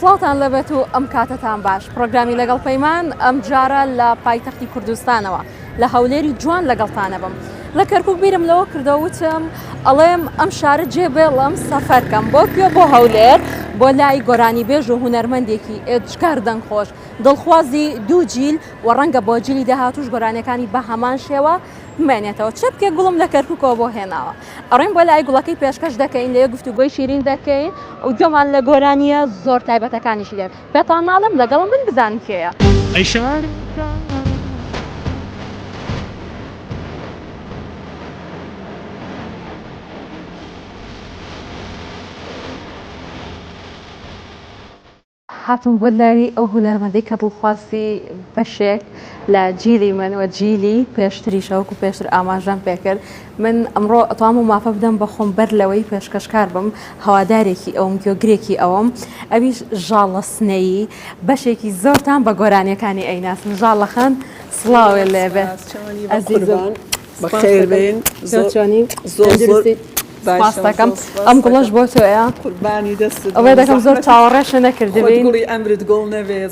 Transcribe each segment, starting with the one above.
سڵاوتان لەبێت و ئەم کاتەتان باش پرۆگرامی لەگەڵ پەیمان ئەم جارە لە پایتەختی کوردستانەوە لە هەولێری جوان لەگەڵتانە بم لە کەرکک بیرم لەوە کردە وتم ئەڵێم ئەم شارە جێ بێڵم سەفەرکەم بۆ کوێ بۆ هەولێر بۆ لای گۆرانی بێژ و هوەرمەندێکی ئێجگار دەنگ خۆش دڵخوازی دوو جیل و ڕەنگە بۆ جلی داهاتوش گۆرانەکانی بە هەمان شێوە بمێنێتەوە چەپکێ گوڵم لە کەرککەوە بۆ هێناوە ئەڕۆین بۆ لای گوڵەکەی پێشکەش دەکەین لێ گفتوگۆی شیرین دەکەین و گوێمان لە گۆرانییە زۆر تایبەتەکانیشی دێت پێتان ناڵێم لەگەڵم بن بزانن کێیە. ئەی شار هاتم بۆ لای ئەو هونەرمەندەی کە دڵخوازی بەشێک لە جیلی من و جیلی پێشتریشە وەکو پێشتر ئاماژەم پێکرد من ئەمڕۆ ئەتوام و مافە بدەم بە خۆم بەر لەوەی پێشکەشکار بم هەوادارێکی ئەوم گوێگرێکی ئەوم ئەویش ژاڵە سنەیی بەشێکی زۆرتان بە گۆرانیەکانی ئەیناسن ژاڵەخان سڵاوێ لێبێ ئەزیزم. بەخێربێن زۆر زۆر سپاس دەکەم ئەم گوڵەش بۆ تۆیە قوربانی دەست ئەوەی دەکەم زۆر چاوەڕێشە نەکردبی گوڵی ئەمرت گوڵ نەبێت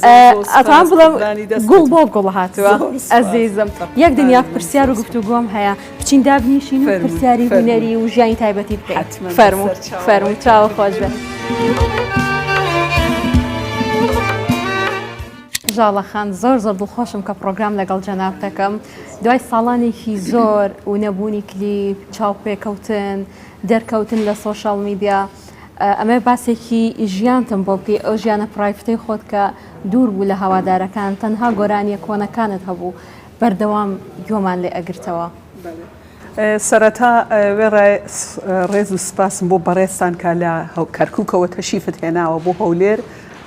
ئەتان بڵم گوڵ بۆ گوڵ هاتووە ئەزیزم یەک دنیا پرسیار و گفتوگۆم هەیە بچین دابنیشین و پرسیاری هونەری و ژیانی تایبەتی بکات فەرمو فەرمو چاوە خۆش بێت. ژاڵە خان زۆر زۆر دڵخۆشم کە پرۆگرام لەگەڵ جەناب دەکەم دوای ساڵانێکی زۆر و نەبوونی کلیپ چاوپێکەوتن دەرکەوتن لە سۆشال میدیا ئەمە باسێکی ژیانتم بۆ بکەی ئەو ژیانە پرایفتەی خۆت کە دوور بوو لە هەوادارەکان تەنها گۆرانیە کۆنەکانت هەبوو بەردەوام گۆمان لێ ئەگرتەوە. سەرەتا وێڕای ڕێز و سپاسم بۆ بەڕێزتان کە لە کەرکووکەوە تەشیفت هێناوە بۆ هەولێر،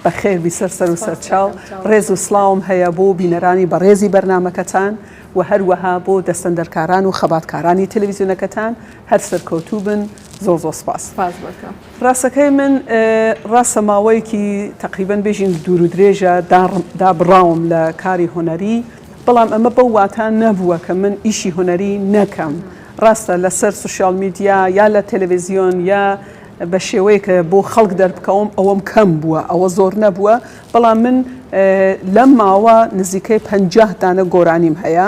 بەخێربی سەر سەر و سەرچاو، ڕێز و سڵاوم هەیە بۆ بینەرانی بەڕێزی بەرنامەکەتان و هەروەها بۆ دەستەندەرکاران و خەباتکارانی تەلەویزیۆنەکەتان، هەر سەرکەوتوو بن، زۆر زۆر سپاس. سپاس بۆ تۆ. ڕاستەکەی من ڕاستە ماوەیەکی تەقریبەن بێژین دوور و درێژە دابڕاوم لە کاری هونەری، بەڵام ئەمە بەو واتا نەبووە کە من ئیشی هونەری نەکەم. ڕاستە لەسەر سوشیال میدیا یا لە تەلەڤزیۆن یا بە شێوەیەک کە بۆ خەڵک دەربکەوم ئەوەم کەم بووە، ئەوە زۆر نەبووە، بەڵام من لەم ماوە نزیکەی پەنجاه دانە گۆرانیم هەیە،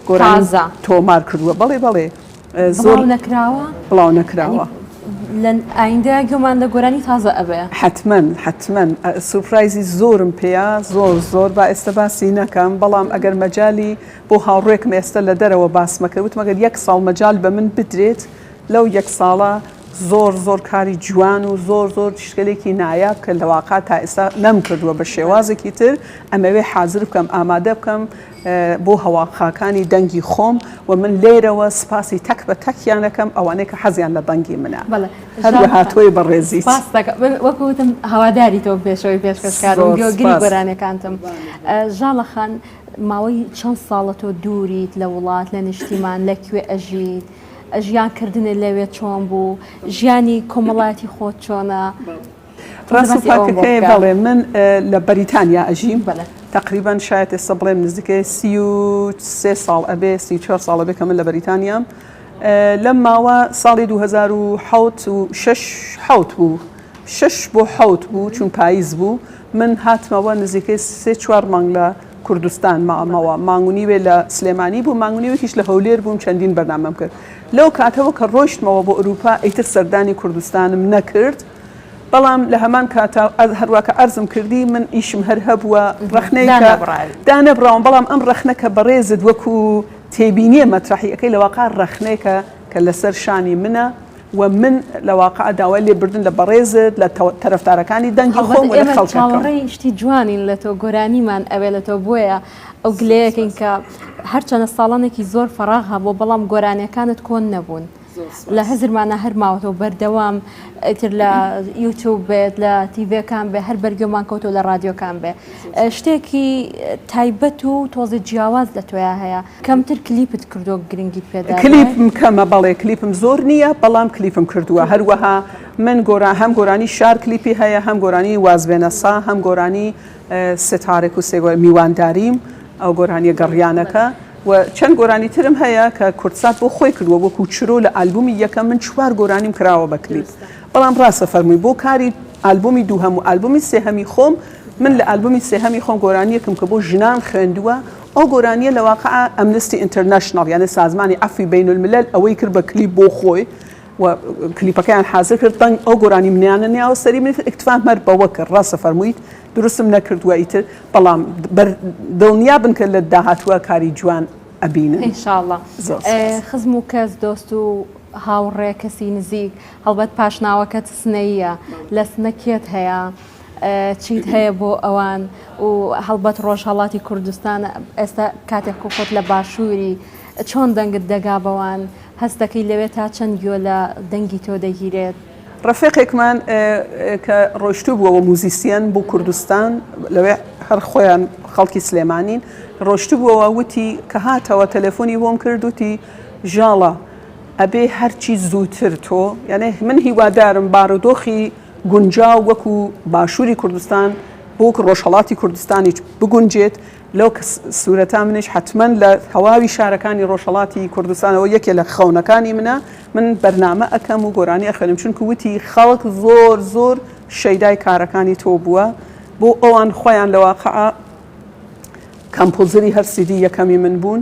گۆرانیم تازە؟ تۆمار کردووە، بەڵێ بەڵێ. زۆر نەکراوە بڵاو نەکراوە لە ئایندە گومان لە گۆرانی تازە ئەبێ حتممەن حتممەن سوپرایزی زۆرم پێیا زۆر زۆر با ئێستا باسی نەکەم بەڵام ئەگەر مەجای بۆ هاوڕێکم ئێستا لە دەرەوە باسمەکەوت مەگەر یەک ساڵ مەجای بە من بدرێت لەو یەک ساڵە زۆر زۆر کاری جوان و زۆر زۆر شتێکی نایاب کە لەواقع تا ئێستا نەم کردووە بە شێوازێکی تر ئەمەوێ حازر بکەم ئامادە بکەم بۆ هەواڵخاکانی دەنگی خۆم و من لێرەوە سپاسی تەک بە تەکیان ئەکەم ئەوانەی کە حەزیان لە دەنگی منە هەروەها تۆی بەڕێزیت وەکو وتم هەواداری تۆ پێشەوەی پێشکەشکار و گوێگری گۆرانیەکانتم ژاڵە خان ماوەی چەند ساڵە تۆ دووریت لە وڵات لە نیشتیمان لەکوێ ئەژیت ژیان کردنێ لەوێ چۆن بوو ژیانی کۆمەڵاتی خۆت چۆنە ڕاست و پاکەکەی بەڵێ من لە بەریتانیا ئەژیم تقریبان شاید ئێستا بڵێم نزیکەی سی و سێ ساڵ ئەبێ سی چوار ساڵە بێ کە من لە بەریتانیام لەم ماوە ساڵی 2006 بوو شش بۆ حوت بوو چون پاییز بوو من هاتمەوە نزیکەی سێ چوار مانگ لە کوردستان مامەوە مانگونی وێ لە سلێمانی بوو مانگونی وەکیش لە هەولێر بووم چەندین بەرنامەم کرد لەو کاتەوە کە ڕۆشتمەوە بۆ ئەوروپا ئیتر سەردانی کوردستانم نەکرد بەڵام لە هەمان کاتا هەروا کە عەرزم کردی من ئیشم هەر هەبووە ڕەخنەی کە دانەبڕاوی. دانەبڕاوم، بەڵام ئەم ڕەخنە کە بەڕێزت وەکو تێبینییە مەترەحی ئەکەی لە واقع ڕەخنەیەکە کە لەسەر شانی منە و من لە واقع داوای لێبوردن لە بەڕێزت، لە تەرەفدارەکانی دەنگی خۆم و لە هەڵبەت ئێمە خەڵکەکەم. چاوەڕێی شتی جوانین لە تۆ، گۆرانیمان ئەوێ لە تۆ بۆیە ئەو گلەیەکەین کە هەرچەنە ساڵانێکی زۆر فەراغ هەبووە بەڵام گۆرانیەکانت کۆن نەبوون. لە هزرمانە هەر ماوەتەوە بەردەوام ئیتر لە یوتوب بێت لە تیڤەکان بێ هەر بەرگێمان کەوتۆ لە رادیۆکان بێ شتێکی تایبەت و تۆزی جیاواز لە تۆیا هەیە کەمتر کلیپت کردو گرنگیت پێدا کلیپم کەمە بەڵێ کلیپم زۆر نییە بەڵام کلیپم کردووە هەروەها من گۆرا هەم گۆرانی شار کلیپی هەیە هەم گۆرانی وازبێنە سا هەم گۆرانی ستارێک و سێ گۆرانی، میوانداریم، ئەو گۆرانیە گەڕیانەکە و چەند گۆرانی ترم هەیە کە کوردسات بۆ خۆی کردووە وەکو چرۆ لە ئالبوومی یەکەم من چوار گۆرانیم کراوە بە کلیپ بەڵام ڕاست ئەفەرمووی بۆ کاری ئالبوومی دووهەم و ئالبوومی سێهەمی خۆم من لە ئالبوومی سێهەمی خۆم گۆرانیەکم کە بۆ ژنان خوێندووە ئەو گۆرانیە لە واقع ئەمنستی ئینتەرنەشناڵ یانێ سازمانی عەفوی بەینولملەل ئەوەی کرد بە کلیپ بۆ خۆی و کلیپەکەیان حازر کرد دەنگ ئەو گۆرانی منیانە نیاوە سەری من اکتفا مەر بەوە کرد ڕاستە فەرموویت دروستم نەکردووە ئیتر بەڵام دڵنیا بن کە لە داهاتووە کاری جوان ئەبینن انشاءاللە خزم و کەس دۆست و هاوڕێ کەسی نزیک هەڵبەت پاشناوەکەت سنەیە لە سنەکێت هەیە چیت هەیە بۆ ئەوان و هەڵبەت ڕۆژهڵاتی کوردستان ئێستا کاتێک خۆخۆت لە باشووری چۆن دەنگت دەگا بەوان هەست دەکەی لەوێ تا چەند گوێ لە دەنگی تۆ دەگیرێت؟ ڕەفێقێکمان کە ڕۆشتوبووە وە موزیسیەن بو کوردستان لەوێ هەر خۆیان خەڵکی سلێمانین ڕۆشتبووەوە وتی کە هاتەوە تەلەفۆنی بۆم کرد وتی ژاڵە ئەبێ هەرچی زووتر تۆ یانێ من هیوادارم بارودۆخی گونجاو وەکو باشووری کوردستان بۆک ڕۆژهەڵاتی کوردستانیش بگونجێت لەو سورەتا منیش حەتمەن لە تەواوی شارەکانی ڕۆژهەڵاتی کوردستانەوە یەکێ لە خەونەکانی منە من بەرنامە ئەکەم و گۆرانی ئەخوێنم چونکە وتی خەڵک زۆر زۆر شەیدای کارەکانی تۆ بووە بۆ ئەوان خۆیان لە واقعە کەمپوزری هەر سیدی یەکەمی من بوون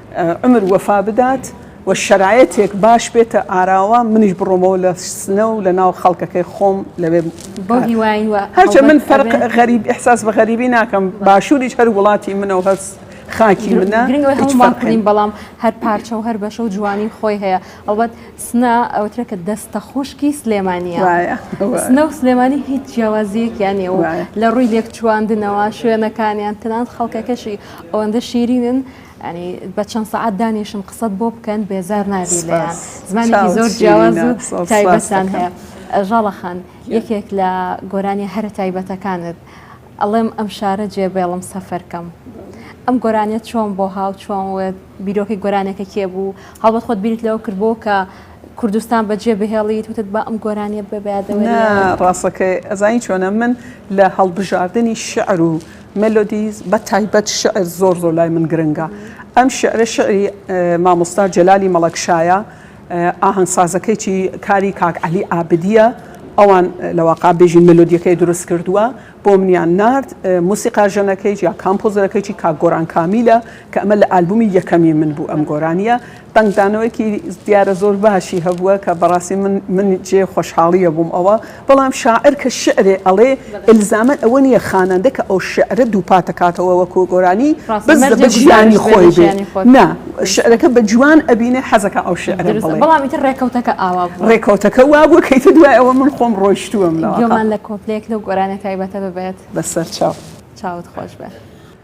عومر وەفا بدات و شەرایەتێک باش بێتە ئاراوە منیش بڕۆمەوە لە سنە و لە ناو خەڵکەکەی خۆم لەوێ بەو هیوای وە هەرچە من فەرق غەریب احساس بە غەریبی ناکەم باشووریش هەر وڵاتی منە و هەست خاکی منە گرنگەوەی هیچ هەمووان فەرقی کردین بەڵام هەر پارچە و هەر بەشە و جوانی خۆی هەیە ئەڵبەت سنە ئەوترێ کە دەستە خوشکی سلێمانیە وایە وایە سنە و سلێمانی هیچ جیاوازیەکیان نیە و وایە. لە ڕووی لێکچواندنەوە شوێنەکانیان تەنانەت خەڵکەکەشی ئەوەندە شیرینن یانی بە چەند سەعات دانیشم قسەت بۆ بکەن بێزار نابی لێیان زمانێکی زۆر جیاواز و تایبەتتان هەیە ژاڵە خان یەکێک لە گۆرانی هەرە تایبەتەکانت ئەڵێم ئەم شارە جێبێڵم سەفەرکەم ئەم گۆرانیە چۆن بۆ هاو چۆن وت بیرۆکەی گۆرانەکە کێ بوو هەڵبەت خۆت بیرت لەوە کردبوو کە کوردستان بەجێ بهێڵیت وتت بە ئەم گۆرانیە ببیادەوە ڕاستەکەی ئەزانی چۆنە من لە هەڵبژاردننی شعر و مێلۆدی بە تایبەت شیعر زۆر زۆر لای من گرنگە ئەم شیعرە شیعری مامۆستا جەلالی مەڵەکشایە ئاهەنگسازەکەیی کاری کاک عەلی عابدیە ئەوان لە واقع بێژین مێلۆدیەکەی دروست کردووە بۆ منیان نارد موسیقا ژەنەکەی یا کامپۆزەرەکەی کاک گۆران کامیلە کە ئەمە لە ئالبومی یەکەمی من بوو ئەم گۆرانیە دەنگدانەوەیەکی دیارە زۆر باشی هەبووە کە بەڕاستی من من جێ خۆشحاڵیە بووم ئەوە بەڵام شاعر کە شعرێ ئەڵێ ئلزامەن ئەوە نیە خانەندە کە ئەو شعرە دووپاتەکاتەوە وەکوو گۆرانی بەس دەبێ ژیانی خۆی بێ نا شعرەکە بە جوان ئەبینێ حەزەکە ئەو شعرە بڵێ بەڵام ئیتر ڕێکەوتەکە ئاوا بوو ڕێکەوتەکە وا بوو کە ئیتر دوای ئەوە من خۆم ڕۆیشتووم گوێمان لە کۆپلەیەک لەو گۆرانیە تایبەتە ببێت بەسەر چاو چاوت خۆش بێ.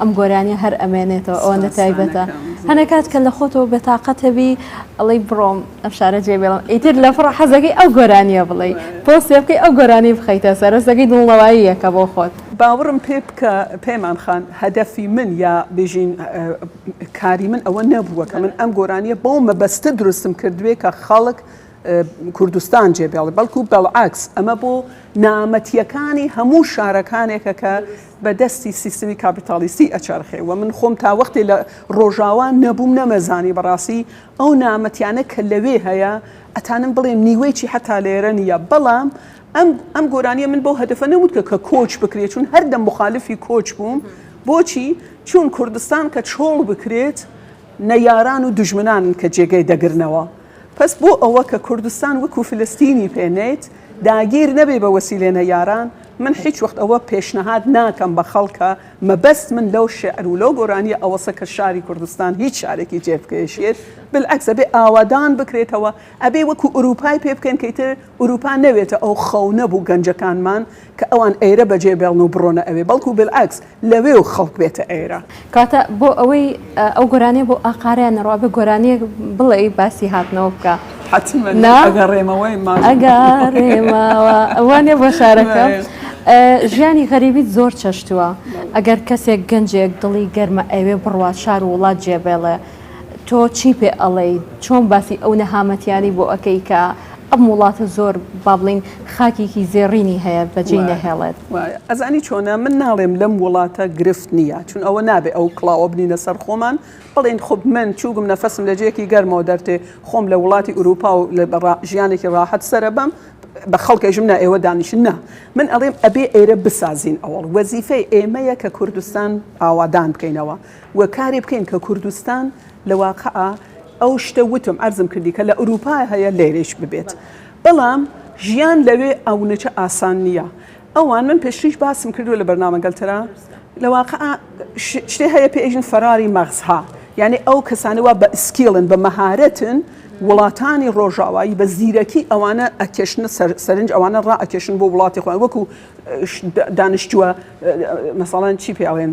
ئەم گۆرانیە هەر ئەمێنێتەوە ئەوەندە تایبەتە هەنێ کات کە لە خۆتەوە بێتاقەتەبی ئەڵی بڕۆم ئەم شارە جێ بێڵم ئیتر لە فڕە حەزەکەی ئەو گۆرانیە بڵێ پۆستێ بکەی ئەو گۆرانی بخەیتە سەرەسەکەی دڵنەوایی یەکە بۆ خۆت. باوەڕم پێ بکە پەیمان خان هەدەفی من یا بژین کاری من ئەوە نەبووە کە من ئەم گۆرانیە بەو مەبەستە دروستم کردوێ کە خەڵک کوردستان جێ بێڵێ بەڵکو بەڵعەکس ئەمە بۆ نامەتیەکانی هەموو شارەکانێکە کە بە دەستی سیستمی کاپیتالیستی ئەچەرخێ و من خۆم تا وەختێ لە ڕۆژاوا نەبووم نەمەزانی بەڕاستی ئەو نامەتیانە کە لەوێ هەیە ئەتانم بڵێم نیوەیچی حەتا لێرە نییە بەڵام ئەم ئەم گۆرانیە من بەو هەدەفە نەوت کە کە کۆچ بکرێت چون هەردەم مخالفی کۆچ بووم بۆچی چون کوردستان کە چۆڵ بکرێت نەیاران و دژمنان کە جێگەی دەگرنەوە پس بۆ ئەوە کە کوردستان وەکو فلستینی پێنێت داگیر نەبێ بە وەسیلێنە یاران من هیچ وەخت ئەوە پێشنەهاد ناکەم بە خەڵکا، مەبەست من لەو شیعر و لەو گۆرانیە ئەوەسە کە شاری کوردستان هیچ شارێکی جێ بکێشێت، بالعەکس ئەبێ ئاوەدان بکرێتەوە، ئەبێ وەکو ئورووپای پێ بکەین کە ئیتر ئورووپا نەوێتە ئەو خەونە بو گەنجەکانمان کە ئەوان ئێرە بەجێ بێڵن و بڕۆنە ئەوێ، بەڵکو بالعەکس. لەوێ و خەڵک بێتە ئێرە. کەواتە بۆ ئەوەی ئەو گۆرانیە بۆ ئاقارەیان نەڕوا بە گۆرانیە بڵێ باسی هاتنەوە بکە ئەگەڕێمەوەیمانەگەڕێمەوەوانێ بۆ شارەکە ژیانی غەریبیت زۆر چەشتووە ئەگەر کەسێک گەنجێک دڵی گەرمە ئەوێ بڕوات شار و وڵات جێبێڵێ تۆ چی پێ ئەڵێی چۆن باسی ئەو نەهامەتیانەی بۆ ئەکەی کە ئەم وڵاتە زۆر با بڵین خاکێکی زێڕینی هەیە بەجێی نەهێڵێت. ئەزانی چۆنە من ناڵێم لەم وڵاتە گرفت نییە چون ئەوە نابێ ئەو کڵاوە بنینە سەر خۆمان بڵێن خۆ من چووگم نەفەسم لە جێیەکی گەرمەوە دەرتێ خۆم لە وڵاتی ئوروپا و لە ژیانێکی ڕاحەت سەرە بەم بە خەڵکێژم نا ئێوە دانیشن نا من ئەڵێم ئەبێ ئێرە بسازین ئەوەڵ وەزیفەی ئێمەیە کە کوردستان ئاوادان بکەینەوە. و کاری بکەین کە کوردستان لە واقعا ئەو شتە وتم عەرزم کردی کە لە ئورووپا هەیە لێرەیش ببێت بەڵام ژیان لەوێ ئەونەچە ئاسان نییە ئەوان من پێشتریش باسم کردووە لە بەرنامەگەل ترا لە واقعا شتێ هەیە پێژن فەراری مەغزها یعنی ئەو کەسانە وا بە ئسکیڵن بە مەهارەتن وڵاتانی ڕۆژاوایی بە زیرەکی ئەوانە ئەکێشنە سەرنج ئەوانە ڕائەکێشن بۆ وڵاتی خۆیان وەکو دانیشتووە مەساڵەن چی پێڵێن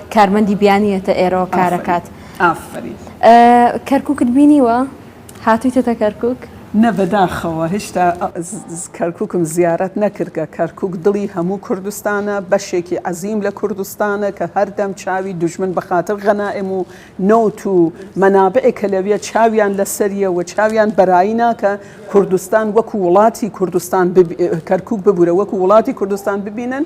کارمەندی بیانی یەتە ئێرەوە کارەکات ئافرین. کەرکوکت بینیوە؟ هاتویتەتە کەرکوک؟ نە بەداخەوە هێشتا کەرکوکم زیارەت نەکردگە کەرکوک دڵی هەموو کوردستانە بەشێکی عەزیم لە کوردستانە کە هەردەم چاوی دوژمن بەخاتر غەنائم و نەوت و مەنابعێ کە لەویە چاویان لەسەریە و چاویان بەرایی ناکە کوردستان وەکو وڵاتی کوردستان کەرکوک ببورە وەکو وڵاتی کوردستان ببینن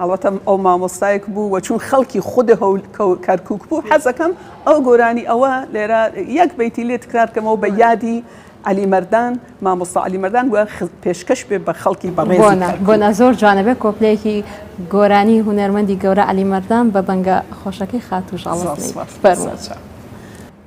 ئەڵبەتە ئەو مامۆستایەک بوو و چون خەڵکی خود کەرکوک بوو حەزەکەم ئەو گۆرانی ئەوە لێرە یەک بیتی لێ تکرار کەمەوە بە یادی علی مردان مامۆستا علی مردان و پێشکەش بێ بە خەڵکی بەڕێز بۆنا زۆر جوانە بێ کۆپلەیەکی گۆرانی هوەرمەندی گەورە علی مردان بە بەنگە خۆشەکەی خاتوو ژاڵ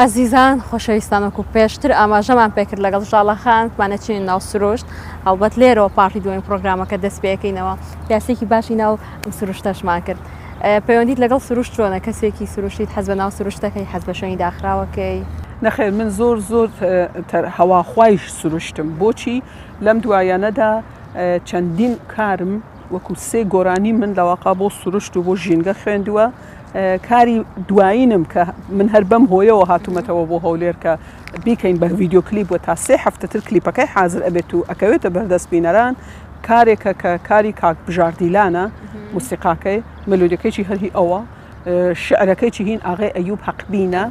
ئەزیزان خۆشەویستان وەکو پێشتر ئاماژەمان پێکرد لەگەڵ ژاڵە خان بتمانە چین ناو سروشت هەڵبەت لێرەوە پارتی دوێن پرۆگرامەکە دەست پێەکەینەوە یاسێکی باشی ناو ئەم سروشتەشمان کرد پەیوەندیت لەگەڵ سروشت چۆنە کەسێکی سروشتیت حەز بە ناو سروشتەکەی حەز بە شوێنی داخراوەکەی نەخێر من زۆر زۆر هەواخوایش سروشتم بۆچی لەم دوایانەدا چەندین کارم وەکو سێ گۆرانی من لەواقع بۆ سروشت و بۆ ژینگە خوێندووە کاری دوایینم کە من هەر بەم هۆیەوە هاتوومەتەوە بۆ هەولێر کە بیکەین بە ڤیددیو کلیپ و تا سێ هەفتە تر کلیپەکەی حازر ئەبێت و ئەکەوێتە بەردەست بینەران کارێکە کە کاری کاک بژاردیلانە موسیقاکەی ملودەکەیی هەرهی ئەوە شعرەکەی چی هین ئاغێ ئەیوب حەقبینە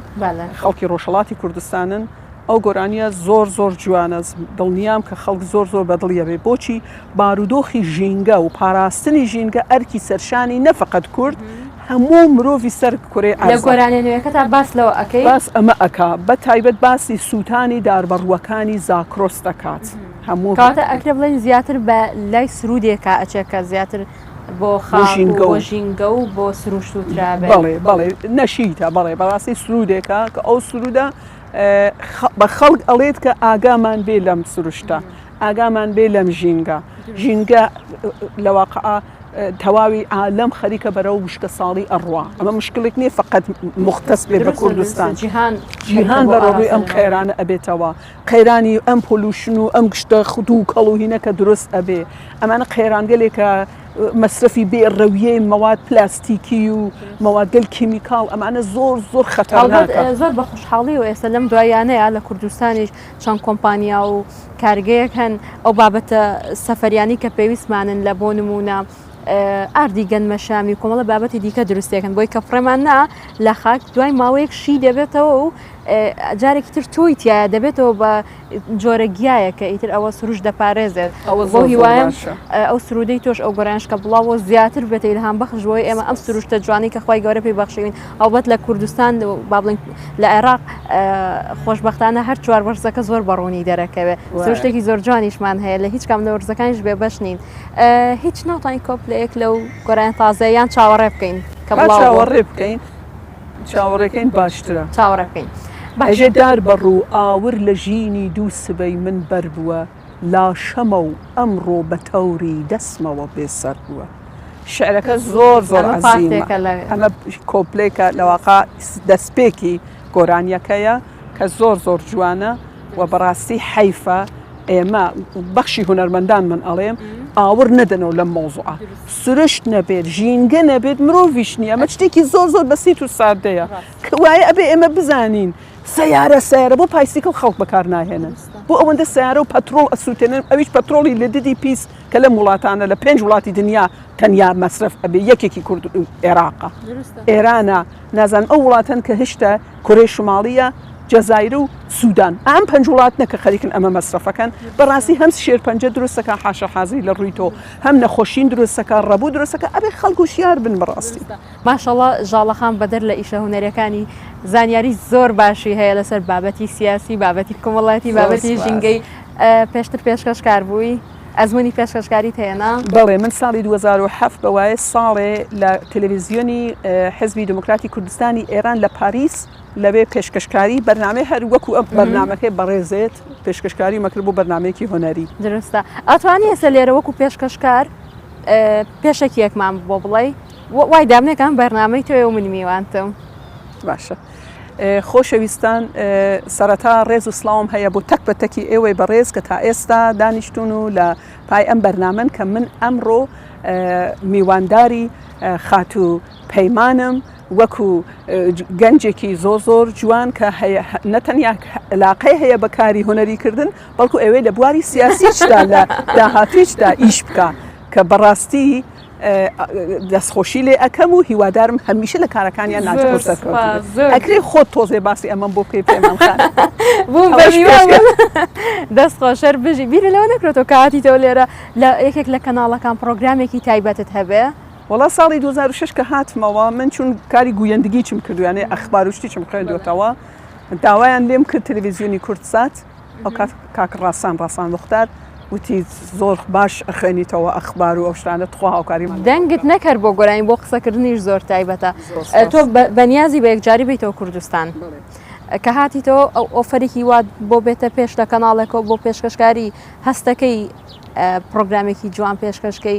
خەڵکی ڕۆژهڵاتی کوردستانن ئەو گۆرانیە زۆر زۆر جوانە دڵنیام کە خەڵک زۆر زۆر بەدڵیەبێ بۆچی بارودۆخی ژینگە و پاراستنی ژینگە ئەرکی سەرشانی نەفقەت کورد هەموو مرۆڤی سەر کورێ گۆرانێنوێکە تا باس لەوە ئەەکەی باس ئەمە ئەک بە تایبەت باسی سووتانی داربەڕووەکانی زاکرۆس دەکات هەموو کاتە ئەکرێ بڵێن زیاتر بە لای سرودێکە ئەچێکە زیاتر بۆ خاژینگە ژینگە و بۆ سروشت و ترابێ بەڵێ بەڵێ نەشیتە بەڵێ بەڕاستی سرودێکە کە ئەو سرودە بە خەڵک ئەڵێت کە ئاگامان بێ لەم سروشتە ئاگامان بێ لەم ژینگە ژینگە لە واقعا تەواوی عالم خەریکە بەرەو وشکە ساڵی ئەڕوا ئەمە مشکلێک نییە فقط مختص بێ بە کوردستان جیهان جیهان بەڕۆی ئەم قەیرانە ئەبێتەوە قەیرانی ئەم پۆلوشن و ئەم گشتە خود و کەڵوهینەکە دروست ئەبێ ئەمانە قەیرانگەلێکە مەسرەفی بێ ڕەویەی مەواد پلاستیکی و مەوادگەل کیمیکال ئەمانە زۆر زۆر خەتە زۆر بە خوشحاڵی و ئێستا لەم دوایانەیە لە کوردستانیش چەند کۆمپانیا و کارگەیەک هەن ئەو بابەتە سەفەریانی کە پێویستمانن لە بۆ نمونە ئاردی گەنمەشامی و کۆمەڵە بابەتی دیکە دروستێکن بۆی کە فڕێمان نا لە خاک دوای ماوەیەک شی دەبێتەوە و جارێکی تر تۆی تایە دەبێتەوە بە جۆرە گیایەکە ئیتر ئەوە سروش دەپارێزێت بۆ هیوایم ئەو سرودەی تۆش ئەو گۆرانش کە بڵاوە زیاتر بێت ئیلهام بەخش بۆی ئێمە ئەم سروشتە جوانی کە خخوای گەورە پێی بەخشین ئەوبەت لە کوردستان بابلین لە عێراق خۆشببختانە هەر چوار بەرزەکە زۆر بەڕوونی دەرەکەوێت سروشتێکی زۆر جوانیشمان هەیە لە هیچ کام لە وەرزەکانیش بێ بەش نین هیچ ناتوانین کۆپ لە یەک لەو گۆران تازەیان چاوەڕێ بکەین کە چاوەڕێ بکەین چاوەڕێکەین باشترە. چاوەڕێبکەین باشترە. ئەژدار بە ڕوو ئاور لە ژینی دوو سبەی من بەر بووە لاشەمە و ئەمڕۆ بە تەوری دەسمەوە بێ سەر بووە. شعرەکە زۆر زۆر عەزیمە. ئەمە کۆپلەیەکە لە واقع دەستپێکی گۆرانیەکەیە کە زۆر زۆر جوانە و بەڕاستی حەیفە ئێمە بەخشی هونەرمەندانمان ئەڵێم ئاوڕ نەدەنەوە لەم مەوزوعە. سروشت نەبێت ژینگە نەبێت مرۆڤیش نییە ئەمە شتێکی زۆر زۆر بەسیت و سادەیە وایە ئەبێ ئێمە بزانین سیارە سیارە بۆ پایسیکل خەڵک بەکار ناهێنن بۆ ئەوەندە سیارە و پەترۆڵ ئەسووتێنن ئەویش پەترۆڵی لە ددی پیس کە لەم وڵاتانە لە پێنج وڵاتی دنیا تەنیا مەسرف ئەبێ یەکێکی کورد عێراقە ئێرانە نازان ئەو وڵاتەن کە هشتا کورێ شماڵیە جەزایر و سوودان ئەم پنج وڵات نەکە خەریکن ئەمە مەسرفەکەن بەڕاستی هەم شێرپەنجە دروستەکە حاشە حازی لە ڕووی تۆ هەم نەخۆشین دروست دەکا ڕەبو دروست دەکا ئەبێ خەڵک وشیار بن بەڕاستی. ماشااللە ژاڵە خان بەدەر لە ئیشە هونەریەکانی زانیاری زۆر باشی هەیە لەسەر بابەتی سیاسی بابەتی کومەڵایەتی بابەتی ژینگەی پێشتر پێشکەش کار بووی ئەزمونی پێشکەشکاری هەیەنا بەڵێ من ساڵی 2007 بەوایە ساڵێ لە تەلەڤزیۆنی حزبی دموکراتی کوردستانی ئێران لە پاریس لەوێ پێشکەشکاری بەرنامەی هەر وەکو ئەم بەرنمەکەی بەڕێزێت پێشکەشکاری مەکرد بۆ بەرنمەیەکی هۆنەری درستە ئەتوانی ئێستا لێرە وەکو پێشکەشکار پێشەکی یەکمان بۆ بڵێ وای دامنێکان بەرنمەی تۆێ و من میوانتم باشە. خۆشەویستان سەرەتا ڕێز و سلااوم هەیە بۆ تەک بە تەکی ئێوەی بەڕێز کە تا ئێستا دانیشتون و لە پای ئەم بەرنامەن کە من ئەمڕۆ میوانداری خاتوو پەیمانم وەکو گەنجێکی زۆر زۆر جوان کە نەتەنیا علاقەی هەیە بە کاری هونەری کردن بەڵکو ئەوێ لە بواری سیاسیشدا لە داهاتویشدا ئیش بکە کە بەڕاستی دەستخۆشی لێ ئەەکەم و هیوادارم هەمیشە لە کارەکانیان ناکرێ خۆت تۆزێ باسی ئەمەم بۆ بکەی پێمان دەست خۆشەر بژی بیری لەوە نەکرێتەوە کاتیتەوە لێرە لە یەکێک لە کەناڵەکان پرۆگرامێکی تایبەتت هەبێ وەڵا ساڵی دوو هەزار و شەش کە هاتمەوە من چون کاری گوویندگیچم کردو یانێ ئەخبار و شتیچم خوێندوەتەوە داوایان لێم کرد تەلەڤیزیۆنی کوردسات ئەو کات کاک ڕاسان ڕاسان موختار وتی زۆر باش ئەخوێنیتەوە ئەخبار و ئەو شتانە تخوا هاوکاریمان دەنگت نەکەر بۆ گۆرانی بۆ قسەکردنیش زۆر تایبەتە تۆ بەنیازی بە یەکجاری بیتەوە کوردستان کە هاتیتەوە ئەو ئۆفەرێکی وات بۆ بێتە پێش لە کەناڵێکەوە بۆ پێشکەشکاری هەستەکەی پرۆگرامێکی جوان پێشکەشکەی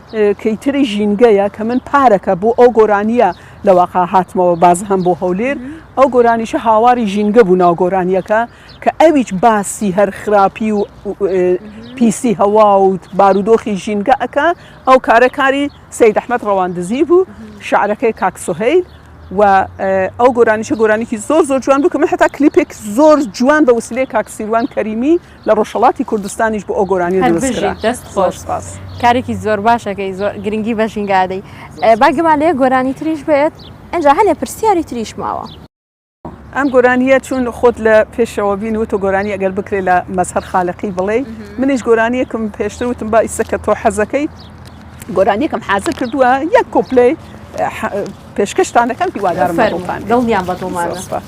کەیتری ژینگەیە کە من پارەکە بۆ ئەو گۆرانیە لە واقع هاتمەوە باز هەم بۆ هەولێر ئەو گۆرانیشە هاواری ژینگە بوو ناو گۆرانیەکە کە ئەویچ باسی هەر خراپی و پیسی هەواوت بارودۆخی ژینگە ئەکە ئەو کارەکاری سید ئەحمد ڕەواندزی بوو شعرەکەی کاکسهیل و ئەو گۆرانیشە گۆرانیکی زۆر زۆر جوان بوو کە من حتا کلیپێک زۆر جوان بە وسلێ کاکسیروان کەریمی لە ڕۆژهەڵاتی کوردستانیش بۆ ئەو گۆرانیە هەر دروست کرا بژیت دەست زۆر خۆش سپاس کارێکی زۆر باشەکەی زۆر گرنگی بە ژینگە ئەدەی زۆر ئێ، با سپاس. گەمە لە یەک گۆرانی تریش بێت ئینجا هەنێ پرسیاری تریش ماوە. ئەم گۆرانیە چون خۆت لە پێشەوە بین وتۆ گۆرانی ئەگەر بکرێ لە مەزهەر خالەقی بڵێی منیش گۆرانیەکم پێشتر وتم با ئیسە کە تۆ حەزەکەی گۆرانیەکم حازر کردووە یەک کۆپلەی ح پێشکەشتان دەکەم هیوادارم لە فەرموو دڵتان بێت دڵنیام بە زۆر دڵمانە. سپاس.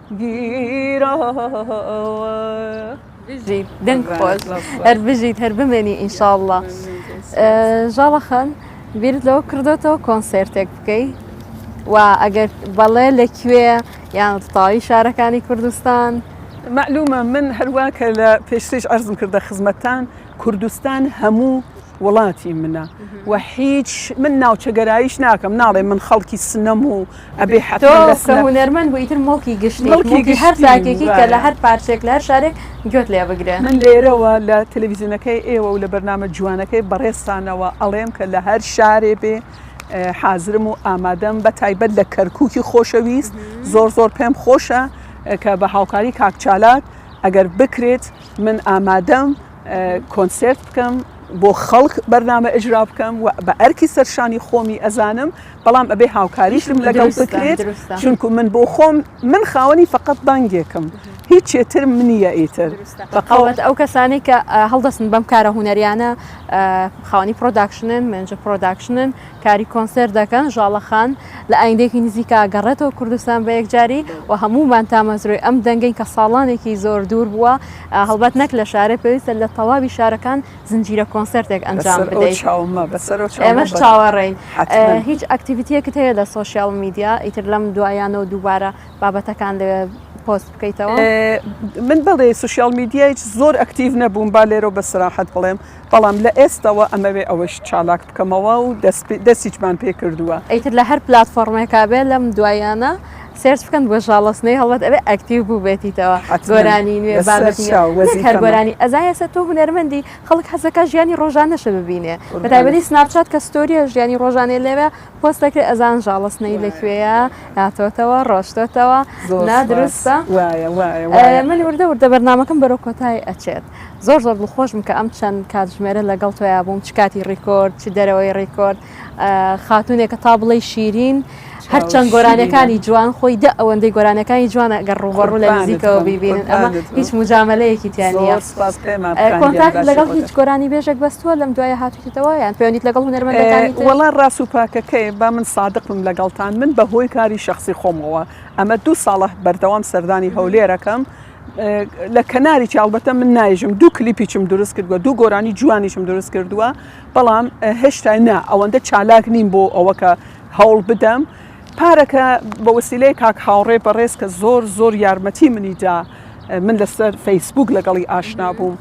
گیراوە بژیت دەنگ خۆش هەر بژیت هەر بمێنی ئینشاءله ژاڵە خان بیرت لەوە کردوێتەوە کۆنسرتێک بکەی و ئەگەر بەڵێ لە کوێ یان تاوی شارەکانی کوردستان معلومە من هەروە کە لە پێشتریش ئەرزم کردە خزمەتان کوردستان هەموو وڵاتی منە و هیچ من ناوچە گەرایش ناکەم ناڵێ من خەڵکی سنەم و ئەبێ حەتەهونەرمەند بۆ ئیتر مڵکی گشتڵکی هەر تاکێکی کە لە هەر پارچێک لە هەر شارێک گوێت لێ بگرێ من لێرەوە لە تەلەڤزیونەکەی ئێوە و لە بەرنامە جوانەکەی بەڕێستانەوە ئەڵێم کە لە هەر شارێ بێ حازرم و ئامادەم بە تایبەت لە کەرکووکی خۆشەویست زۆر زۆر پێم خۆشە کە بە هاوکاری کاکچالات ئەگەر بکرێت من ئامادەم کۆنسێرت بکەم بۆ خەڵک بەرنامە ئەجرا بکەم و بە ئەرکی سەرشانی خۆمی ئەزانم بەڵام ئەبێ هاوکاریشم لەگەڵ بکرێت چونکو من بۆ خۆم من خاوەنی فقط بانگێکم هیچ چێتر منیە ئیتر بەقاوەت ئەو کەسانی کە هەڵدەستن بەم کارە هوەریانە خاوەنی پرۆداکشنن منجە پرۆداکشنن کاری کۆنسەر دەکەن ژاڵەخان لە ئایندێکی نزیکا گەڕێتەوە کوردستان بە یەکجاری و هەموو مانتامەزرۆی ئەم دەنگین کە ساڵانێکی زۆر دوور بووە هەڵبەت نەک لە شارێک پێویستە لە تەواوی شارەکان زنجیرە کۆنسێرتێک ئەنجام بدەیت ئێمەش چاوەڕێین هیچ ئەکتیڤیتیەکت هەیە لە سۆشیال میدیا ئیتر لەم دوایانەوە دووبارە بابەتەکان لەوێ پۆست بکەیتەوە من بڵێ سوسیال میدیای زۆر ئەکتیڤ نەبووم با لێرە بە سراحەت بڵێم بەڵام لە ئێستەوە ئەمەوێ ئەوەش چالاک بکەمەوە و دەستیچمان پێ کردووە. ئیتر لە هەر پلاتفۆڕمێکا بێ لەم دواییانە سێرچ بکەن بۆ ژاڵە سنەی هەڵبەت ئەبێ ئەکتیڤ بووبێتیتەوە گۆرانی نوێ بابەتی نوێ نەک هەر گۆرانی ئەزا ئێستا تۆ هونەرمەندی خەڵک حەز دەکا ژیانی ڕۆژانەشە ببینێ بە تایبەتی سناپچات کە ستۆرییە ژیانی ڕۆژانەی لەوێ پۆست دەکرێ ئەزان ژاڵە سنەی لە کوێیە هاتۆتەوە ڕۆشتۆتەوە نا دروستە وایە وایە وایە من وردە وردە بەرنامەکەم بەرەو کۆتای ئەچێت. زۆر زۆر دڵخۆش بووم کە ئەم چەند کاتژمێرە لەگەڵ تۆیا بووم چ کاتی ڕیکۆرد چ دەرەوەی ڕیکۆرد خاتونێکە تا بڵێ شیرین هەرچەند گۆرانەکانی جوان خۆی دە ئەوەندەی گۆرانەکانی جوانە گەڕ ڕوبەڕوو لە نزیکەوە بیبینن ئەمە هیچ مجاملەیەکی تیانە کۆنتاک لەگەڵ هیچ گۆرانی بێژێک بەستووە لەم دوایە هاتوتەوە یان پێوەنیت لەگەڵ هونەرمەندەکانی وڵا ڕاست و پاکەکەی با من سادقم لەگەڵتان من بەهۆی کاری شخصی خۆمەوە ئەمە دوو ساڵە بەردەوام سەردانی هەولێرەکەم لە کەناریی ئەڵبەتە من نایژم دوو کلیپیچم دروست کردووە دوو گۆرانی جوانیشم دروست کردووە بەڵام هێشتا نا ئەوەندە چالاک نیم بۆ ئەوەکە هەوڵ بدەم پارەکە بە وسیلەیە کاک هاوڕێ بەڕێز کە زۆر زۆر یارمەتی منیدا من لەسەر فەیسبوک لەگەڵی ئاشنا بووم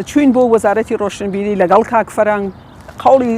چوین بۆ وەزارەتی ڕۆشنبیری لەگەڵ کاک فەرەنگ قوڵی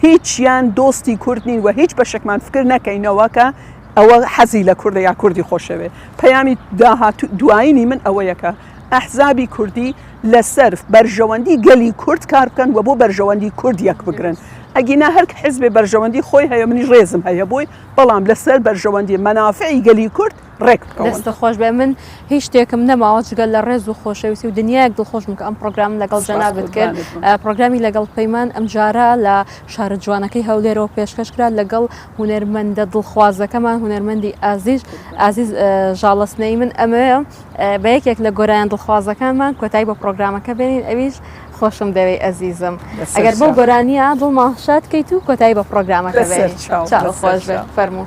هیچیان دۆستی کورد نین و هیچ بەشێکمان فکر نەکەینەوە کە ئەوە حەزی لە کوردە یا کوردی خۆشەوێت. پەیامی داهاتوو دوایینی من ئەوەیە کە ئەحزابی کوردی لەسەر بەرژەوەندی گەلی کورد کار بکەن و بۆ بەرژەوەندی کورد یەک بگرن. ئەگینا هەر حیزبێ بەرژەوەندی خۆی هەیە منیش ڕێزم هەیە بۆی، بەڵام لەسەر بەرژەوەندی مەنافعی گەلی کورد ڕێک بکەون. دەستت خۆش بێ من هیچ شتێکم نەماوە جگەل لە ڕێز و خۆشەویستی و دنیایەک دڵخۆشم کە ئەم پرۆگرام لەگەڵ جەنابت کرد پرۆگرامی لەگەڵ پەیمان ئەمجارە لە شارە جوانەکەی هەولێرەوە پێشکەش کرا لەگەڵ هوەرمەندە دڵخوازەکەمان هوەرمەندی ئازیز ئازیز ژاڵستنەی من ئەمەیە بە یەکێک لە گۆرایان دڵخوازەکانمان کۆتایی بە پرۆگرامەکە بێنین ئەویش خۆشم دەوێ ئەزیزم ئەگەر بۆ گۆرانیە دڵماخشات کەیت و کۆتایی بە پرۆگرامەکە خۆش فەرموو.